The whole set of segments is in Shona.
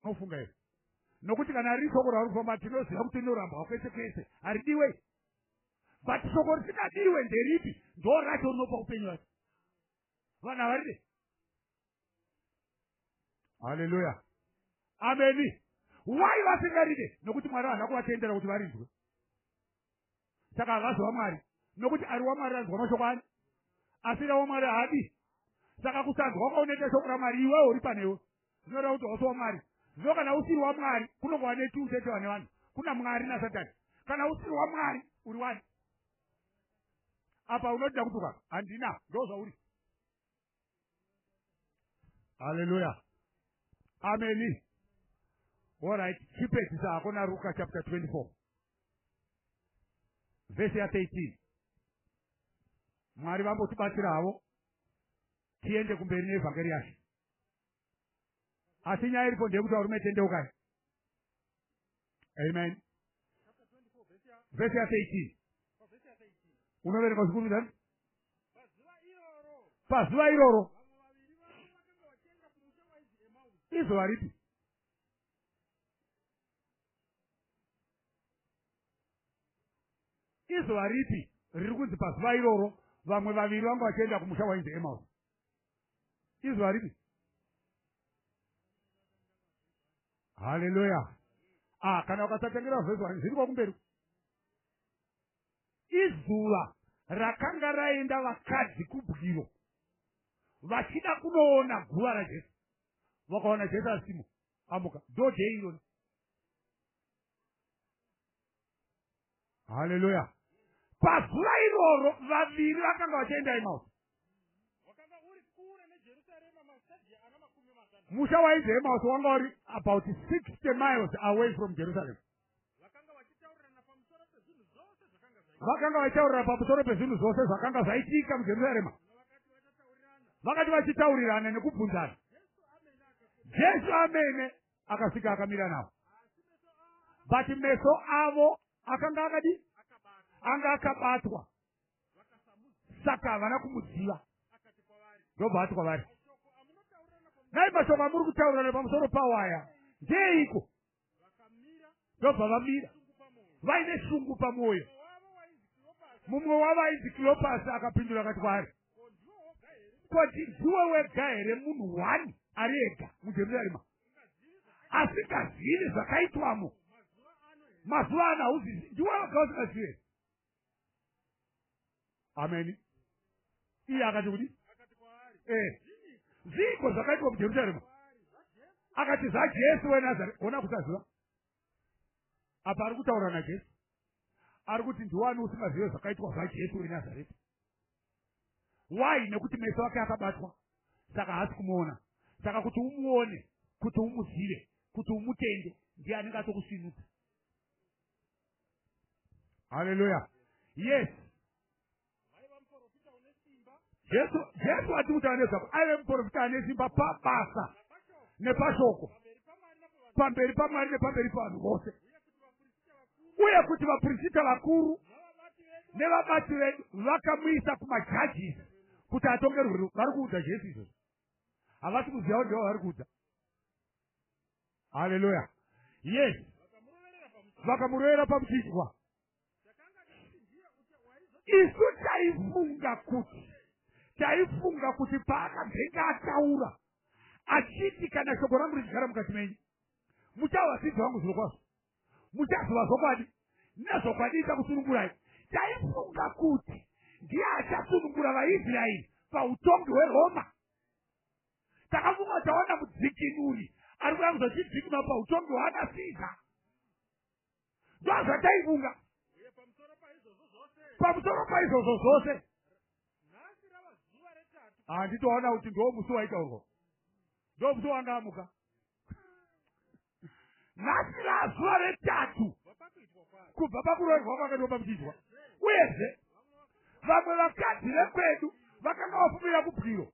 unofunga here nokuti kana riri shoko rauri kufamba tinoziva kuti rinorambwa kwese kwese haridiwe but shoko risingadiwe nderipi ndo racho rinopa upenyu wacho vanhu havaride haleluya ameni why vasingaride nokuti mwari havana kuvatendera kuti varinzwe saka havazi wamwari nokuti ari wamwari anzwa mashoko ani asi ra wamwari haadi saka kusanzwa kwaunoita shoko ramwari iwewo uri panewe zvinoreva kuti hausi wamwari zvino kana usiri wamwari kunongova netiutetewa nevanhu kuna mwari nasatani kana usiri wamwari uri wani apa unoda kutuka handina ndozvauri haleluya ameni orit chipedzisa hako naruka chapter 24 vhesi ya13 mwari vambotibatsira havo tiende kumberi neevhangeri yacho asi nyaya iripo ndeyekuti varume tendeukai amen vhesi ya 13 unoverenga uchikurumidza pazuva iroro izuva ripi izuva ripi riri kunzi pazuva iroro vamwe vaviri vanga vachienda kumusha wainzi emausi izwi haripi haleluya ah kana ukasatengera vhesi wani zviri kwakumberi izuva rakanga raenda vakadzi kubwiro vachida kunoona guva rajesu vakaona jesu asimo amuka ndodei irona haleluya pazuva iroro vaviri vakanga vachienda emaus musha wainzi emaus wanga uri about sixty miles away from jerusalem vakanga vachitaurira pamusoro pezvinhu zvose zvakanga zvaitika mujerusarema vakati vachitaurirana nekubvunzana jesu amene akasvika akamira navo but meso avo akanga akadi anga akabatwa saka havana kumuziva ndobva ati kwavari nai mashoko amuri kutaurana pamusoro pawaya ndeiko ndobva vamira vaine shungu pamwoyo mumwe wavo ainzi kilopasi akapindura akati kwaari koti ndiwe wega here munhu one ari ega mujerusarema asingazivi zvakaitwamo mazuva ano hauzivi ndiwe wega usingazivi ameni iye akati kudi eh. zviiko zvakaitwa mujerusarema akati zvajesu wenazareta ona kusaziva apa ari kutaura najesu ari kuti ndiwani usingazive zvakaitwa zvajesu wenazareta why nekuti meso ake akabatwa saka haasi kumuona saka kuti umuone kuti umuzive kuti umutende ndiye anenge atokusinudza haleluya yes jesu jesu ati kuti anezvako aive muprofita ane simba pabasa nepashoko pamberi pamwari nepamberi pavanhu vose uye kuti vaprofita vakuru nevabati vedu vakamuisa kumajajisi kuti atongerwe vari kuudza jesu izvozvo havasi kuziva ndivo vari kuudza haleluya yes vakamurovera pamuchinjwa isu taifunga kuti taifunga kuti paakazenge ataura achiti kana shoko rangu richigara mukati menyu muchava vadzidzi vangu zviro kwazvo muchaziva zvokwadi nezvokwadi ichakusunungurai taifunga kuti ndiye achasunungura vaisraeri pautongi hweroma takafunga taona mudzikinuri ari kuda kuzotidzikima pautongi hwaakasiza ndozvataifunga pamusoro paizvozvo zvose handitoona kuti ndo musi waitaurwa ndo musi wanga amuka nhasi razuva retatu kubva pakuroerwa kwake ndopamchidwa uyezve vamwe vakadzi vekwedu vakanga vafumira kubwiro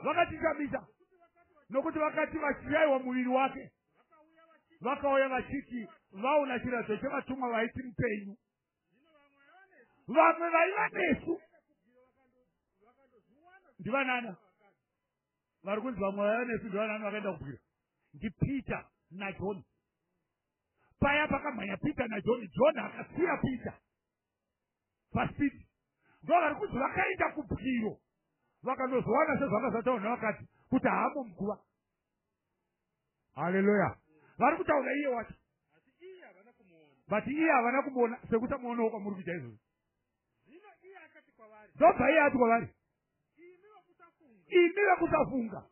vakatitamisa nokuti vakati vachiraiwa muviri wake vakauya vachiti vaona chiradzo chevatumwa vaiti mupenyu vamwe vaiva nesu ndivanana vari kunzi vamwe vaiva nesu ndevanani vakaenda kubwira ndipeter najohn paya pakamhanya peter najohn john akasiya peter paspeed ndo vari kunzi vakaenda kubwiro vakanozowana sezvakazataurna vakati kuti haamo muguva haleluya vari kutaura iye wacho but iye havana kumuona sekuti amuonawo kwamuri kuita izvozvo ndobva iye ati kwavari imi vekusafunga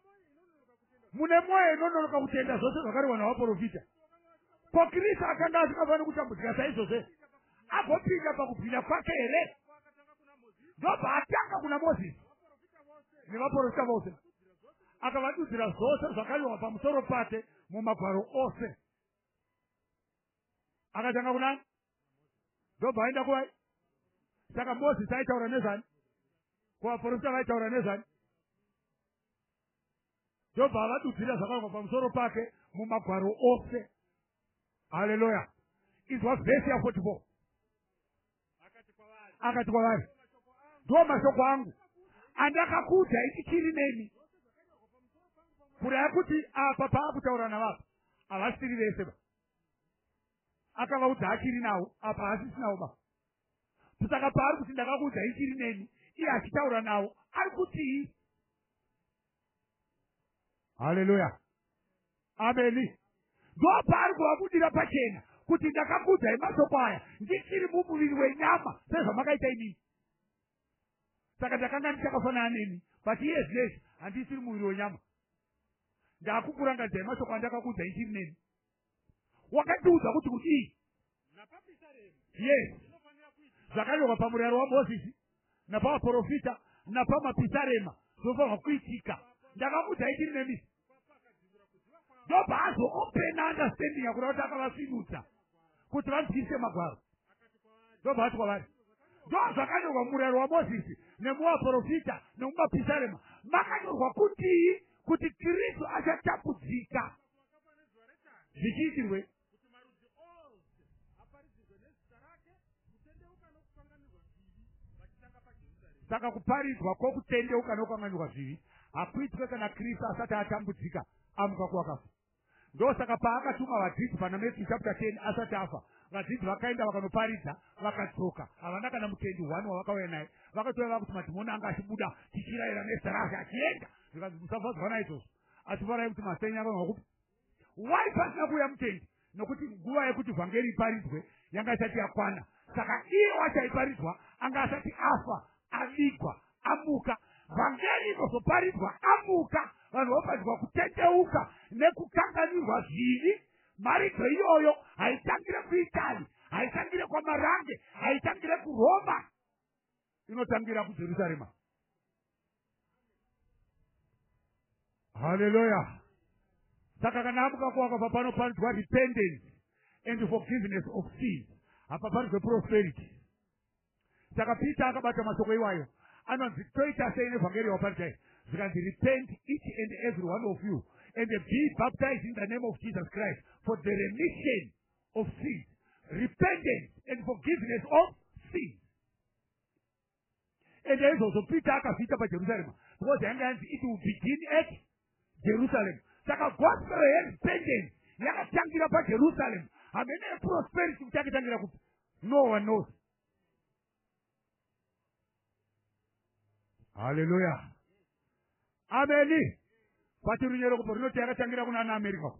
mune mwoyo inononoka kutenda zvose zvakarehwa navaprofita ko kristu akanga asingafaniri kutambudzika saizvozve agopinda pakubwinya kwake here ndobva atanga kuna mozisi nevaprofita vose akavadudzira zvose zvakarehwa pamusoro pake mumagwaro ose akatanga kuna ndobva aenda kuvai saka mozisi aitaura nezvani kuvaporofita vaitaura nezvani ndobva avadudzira zvakanga pamusoro pake mumagwaro ose haleluya izwa vhesi ya 44 akati kwavari ndo mashoko angu andakakuudza ichichiri nemi kuraya kuti apa paakutaura navapa havasiri vese ba akavaudza achiri nawo apa haasisi nawo baba kusaka paari kuti ndakakuudza ichiri neni iye achitaura nawo ari kutii haleluya ameni ndo paari kuvakudira pachena kuti ndakakuudzai masoko aya ndichiri mumuviri wenyama sezvamakaita inini saka ndakanga ndichakafanana neni but iye zvinezvi handisiri muviri wenyama ndakukurangadzai mashoko andakakuudzai chiri neni wakatiudza kuti kudii yes zvakanyorwa pamurayiro wamozisi napavaprofita napamapisarema zvofanirwa kuitika ndakamuudza itiri nemi ndobva azoopena understanding yakuda kuti akavasvinudza kuti vanzwisise magwaro ndobva vati kwavari ndo zvakanyorwa murayiro wamozisi nemuvaprofita nemumapisarema makanyorwa kutii kuti kristu achatapudzika zvichiitirwei saka kuparidzwa kwokutendeuka nokukanganirwa zvivi hakuitwe kana kristu asati atambudzika amuka kuwakafa ndosaka paakatuma vadzidzi pana matthew chapter 10 asati afa vadzidzi vakaenda vakanoparidza vakadzoka havana kana mutendi one wavakauya naye vakatouya vakuti madhimoni anga achibuda tichirayira nezita rake achienda zvikanzi musafadzwa naizvozvo asi varai kuti masenya vanhu vakupi why pasina kuuya mutendi nokuti nguva yekuti vhangeri iparidzwe yanga isati yakwana saka iye wacho aiparidzwa anga asati afa avigwa amuka vhangeri inozoparidzwa amuka vanhu voparidzwa kutendeuka nekukanganirwa zvivi maridzo iyoyo haitangire kuitali haitangire kwamarange haitangire kuroma inotangira kujerusarema haleluya saka kana amukakuwaka papano panzwa repentance and forgiveness of sin hapa panzwe prosperity saka peter akabata mashoko iwayo anonzi toita sei nevhangeri waparidai zvikanzi repent each and every one of you and be baptized in the name of jesus christ for the remission of sin repentance and forgiveness of sin and aizvozvo peter akazviita pajerusarema because yanga yanzi it will begin at jerusalem saka gospel yerepentance yakatangira pajerusalem hamene yeprosperity kuti yakatangira kupi no one knows halleluya ameni pati runyeroko po rinoti yakatangira kuna ana america ko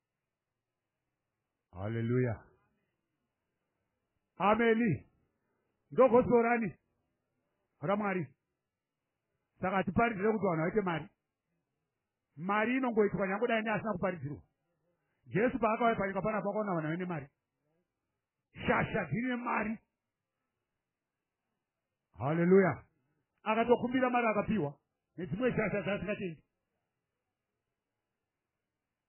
haleluya ameni ndogosorani ramwari saka hatiparidzire kuti vanhu vaite mari mari inongoitwa nyangodai neasina kuparidzirwa jesu paakauya panyika panapa akaona vanhu vaine mari shasha dzine mari haleluya akatokumbira mari akapiwa nedzimwe shasha dzaasingatendi